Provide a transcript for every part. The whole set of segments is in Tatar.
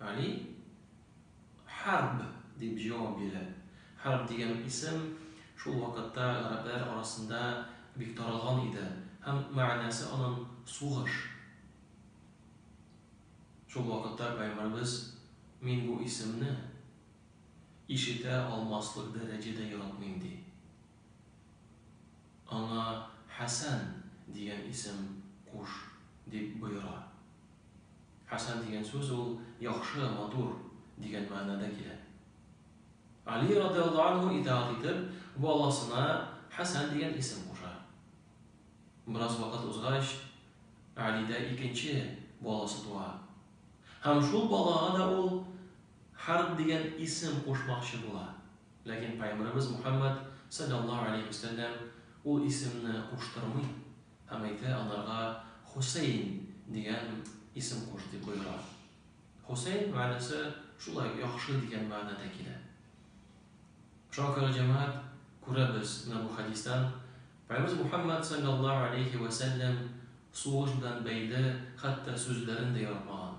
Али Хәрб дип җавап бирә. Хәрб дигән исем шул вакытта гарәпләр арасында бик таралган иде һәм мәгънәсе анын сугыш. Шул вакытта Пәйгамбәребез мин бу исемне ишетә алмаслык дәрәҗәдә яратмыйм ди. Аңа Хәсән дигән исем куш дип боера. Хәсән дигән сүз ул яхшы, матур дигән мәгънәдә килә. Али радиаллаһу анһу итаәгать итеп, баласына Хәсән дигән исем куша. Бераз вакыт узгач, Алидә икенче баласы туа. Һәм шул балага да ул Хәрб дигән исем кушмакчы була. Ләкин Пәйгамбәребез Мөхәммәд салләллаһу галәйһи вә сәлләм ул исемне куштырмый. Һәм әйтә, Аларга Хусәйн дигән исем куш, дип боера. Хусәйн мәгънәсе шулай, яхшы дигән мәгънәдә килә. Шуңа күрә, җәмәгать, күрәбез менә бу хәдистән, Пәйгамбәребез Мухәммәд салләллаһу галәйһи вә сәлләм сугыш белән бәйле хәтта сүзләрен дә яратмаган.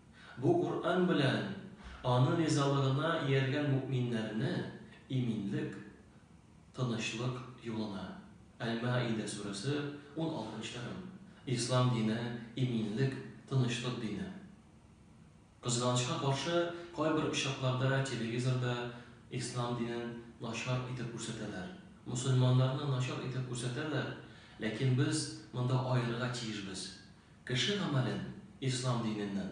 Бу Коръән белән Аны ризалыгына ияргән мөэминнәрне иминлек, тынычлык юлына. Әл-Маида сүрәсе, уналтынчы әгем. Ислам дине, иминлек, тынычлык дине. Кызганычка каршы, кайбер очракларда телевизорда Ислам динен начар итеп күрсәтәләр, мөселманнарны начар итеп күрсәтәләр, ләкин без монда аерырга тиешбез, Кеше гамәлен, ислам диненнән.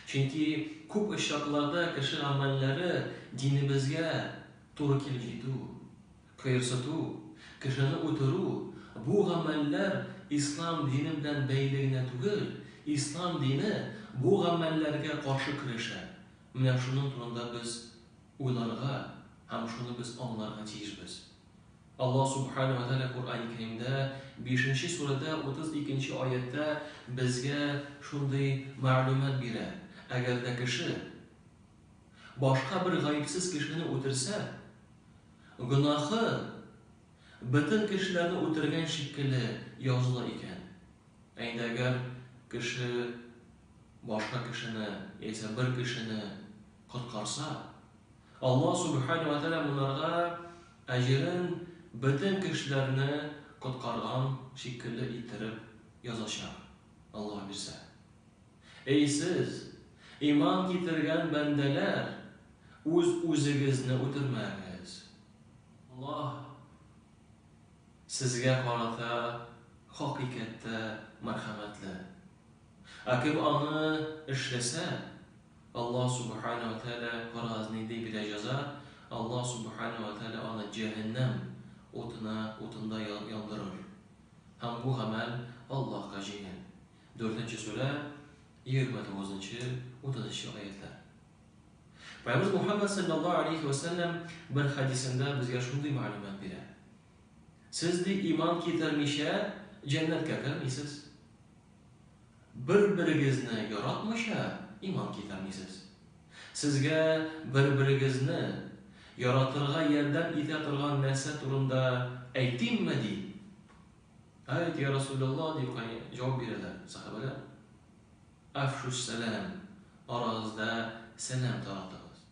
Чөнки күп очракларда кеше гамәлләре динебезгә туры килеп җитү, кыерсыту, кешене үтерү, бу гамәлләр ислам дине белән бәйле генә түгел, ислам дине бу гамәлләргә каршы көрәшә. Менә шуның турында без уйларга һәм шуны без аңларга тиешбез. Аллаһ Сүбхәнәһү вә Тәгалә Коръәни Кәримдә, бишенче сүрәдә, утыз икенче аятьтә безгә шундый мәгълүмат бирә, Әгәр дә кеше башка бер гаепсез кешене үтерсә, гөнаһы бөтен кешеләрне үтергән шикелле языла икән. Ә инде әгәр кеше башка кешене яисә бер кешене коткарса, Аллаһ Сүбхәнәһү вә Тәгалә монарга әҗерен бөтен кешеләрне коткарган шикелле иттереп язачак, Аллаһ бирсә. Әй сез, иман китергән бәндәләр, үз-үзегезне үтермәгез. Аллаһ сезгә карата хакыйкатьтә мәрхәмәтле. Ә кем аны эшләсә, Аллаһ Субхана ва Тәгалә карагыз нинди бирә җәза, Аллаһ Субхана ва Тәгалә аны җәһәннәм утына утында яндырыр. Һәм бу гамәл Аллаһка җиңел. Дүртенче сүрә, егерме тугызынчы, утызынчы аятьләр. Пәйгамбәрбез Мухәммәд саллаллаһу алейһи ва сәлләм бер хәдисендә безгә шундый мәгълүмат бирә. Сез ди иман китермичә җәннәткә кермисез. Бер-берегезне яратмыйча иман китермисез. Сезгә бер-берегезне яратырга ярдәм итә торган нәрсә турында әйтимме? ди. Әйт, йа Расуләллаһ, дип җавап бирәләр сәхабәләр. Афшүс сәлам, арагызда сәлам таратыгыз.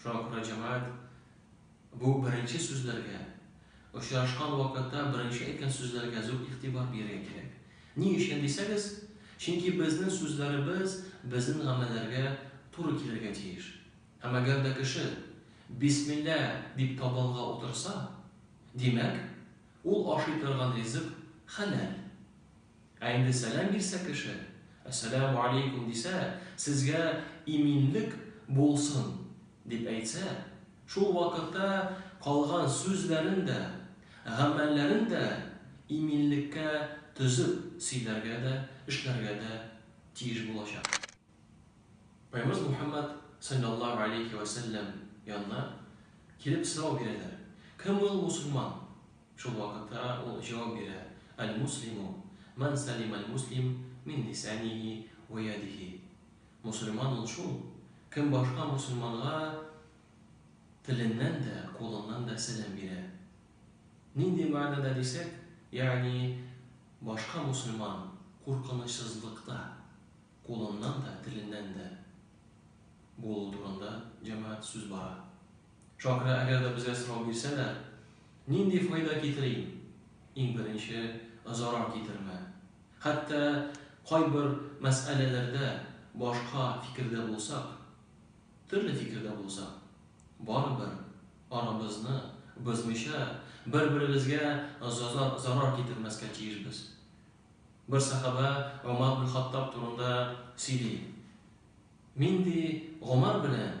Шуңа күрә җәмәгать бу беренче сүзләргә, очрашкан вакытта беренче әйткән сүзләргә зур игътибар бирергә кирәк. Ни өчен дисәгез, чөнки безнең сүзләребез безнең гамәлләргә туры килергә тиеш. Һәм әгәр дә кеше бисмилла дип табынга утырса, димәк, ул ашый торган ризык хәләл. Ә инде сәлам бирсә кеше, Әссәләмү алейкүм дисә, сезгә иминлек булсын, дип әйтсә, шул вакытта калган сүзләрен дә, гамәлләрен дә иминлеккә төзеп сөйләргә дә, эшләргә дә тиеш булачак. Пәйгамбәрбез Мухәммәд салләллаһу алейһи вә сәлләм янына килеп сорау бирәләр. Кем ул мусульман? Шул вакытта ул җавап бирә, Әл-муслиму, мән сәлим әл-муслим мин лисәнихи вә ядихи. Мусульман ул шул, кем башка мусульманга теленнән дә, кулыннан да сәлам бирә. Нинди мәгънәдә дисәк, ягъни башка мусульман куркынычсызлыкта. кулыннан да, теленнән дә булу турында, җәмәгать, сүз бара. Чакра, әгәр дә безгә сорау бирсә дә, нинди файда китерим? Иң беренче, зарар китермә. Хәтта кайбер мәсьәләләрдә башка фикердә булсак, төрле фикердә булсак, барыбер арабызны бозмыйча, бер-беребезгә зарар китермәскә тиешбез. Бер сәхабә Гомар бин Хаттаб турында сөйли. Мин, ди, Гомар белән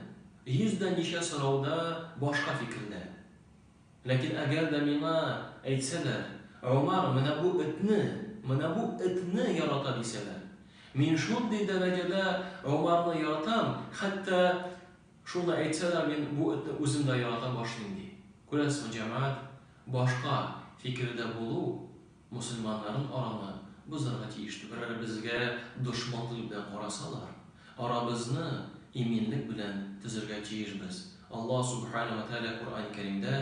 йөз дә ничә сорауда башка фикердә. Ләкин әгәр дә миңа әйтсәләр, Гомар менә бу этне, менә бу этне ярата, дисәләр, мин шундый дәрәҗәдә Гомарны яратам, хәтта шуны әйтсәләр, мин бу этне үзем дә ярата башлыйм, ди. Күрәсең, җәмәгать, башка фикердә булу Мөселманнарын араны бозарга тиеш түгел. Әгәр безгә дошманлык белән карасалар, арабызны иминлек белән төзергә тиешбез. Аллаһ Сүбхәнәһү вә Тәгалә Коръәни Кәримдә,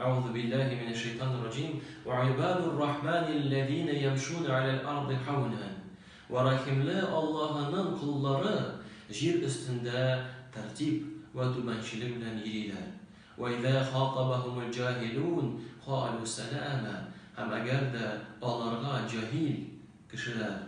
Әгъузу билләһи минәш шәйтанир раҗим, Вә ибадур рахманил ләзинә ямшуна галәл арди һәүнән, Вә рәхимле Аллаһының коллары җир өстендә тәртип вә түбәнчелек белән йөриләр. Вәизә хатабахумул җаһилун калу сәләма Һәм әгәр дә аларга җаһил, кешеләр,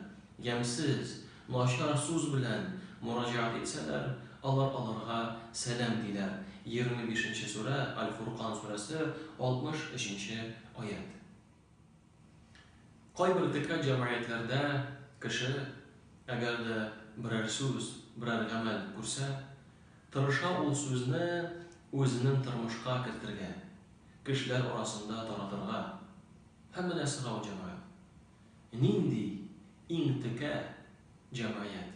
ямьсез, начар суз белән мөрәҗәгать итсәләр, алар аларга сәлам диләр, 25 нче сүрә, Аль-Фуркан сүрәсе, 63 нче аять. Кайбер декан җәмгыятьләрдә кеше, әгәр дә берәр сүз, берәр гамәл күрсә, тырыша ул сүзне үзенең тормышка кертергә, кешеләр арасында таратырга. Һәм менә сорау, җәмәгать, нинди иң текә җәмгыять?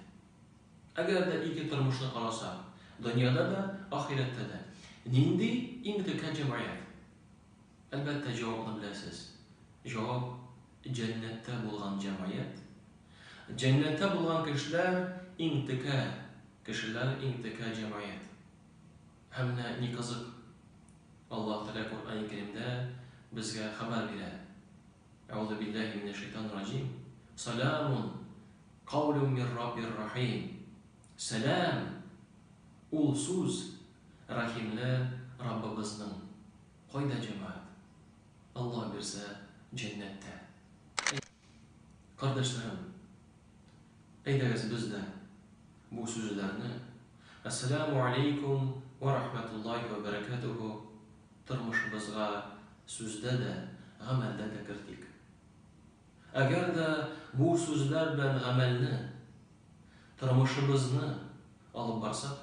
Әгәр дә ике тормышны карасак, дөньяда да, ахирәттә дә, нинди иң текә җәмгыять? Әлбәттә, җавапны беләсез. Җавап, җәннәттә булган җәмгыять. Җәннәттә булган кешеләр, иң текә кешеләр, иң текә җәмгыять. Һәм менә ни кызык, Аллаһ Тәгалә Коръәни Кәримдә безгә хәбәр бирә, Әгъузу билләһи минәш шәйтанир раҗим, Салямун каулум мир Раббир рахим, Сәлам, ул сүз Рәхимле Раббыбызның кайда җәмәгать? Алла бирсә, җәннәттә. Әй, кардәшләрем, әйдәгез без дә бу сүзләрне, Әссәләмү алейкүм вә рахмәтуллаһи вә бәрәкәтүһү, тормышыбызга сүздә дә, гамәлдә дә кертик. Әгәр дә бу сүзләр белән гамәлне, тормышыбызны алып барсак,